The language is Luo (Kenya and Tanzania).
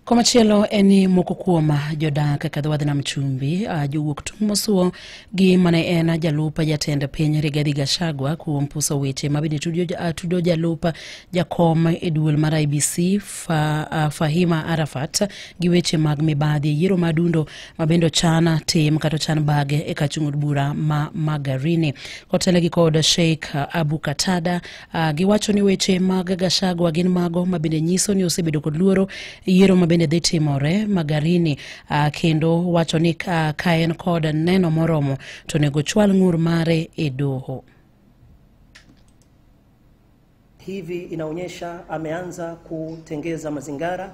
Komachielo en ni moko kuom jodak kaka dhowadh nam chumbi jowuok tung' mosuo gi mane en jalup jatend piny Rigathi Gachagua kuom puso weche ma bende tudo jalup jakom e duol mar IBC fa, uh, Fahima Arafat gi weche mag mibadhi e yiero madundo ma bende ochan tim kata ochan bage e kachung' od bura ma Magarini kotele gi kod Sheikh Abu Katada Uh, giwacho ni weche mag Gashagwa gin mago ma bende nyiso ni osebedo kod luoro yiero ma bende dhi timore Magarini uh, kendo wacho ni uh, ka en kod neno moromo to onego chwal ng'ur mare e doho. Hivi inaonyesha ameanza kutengeza mazingara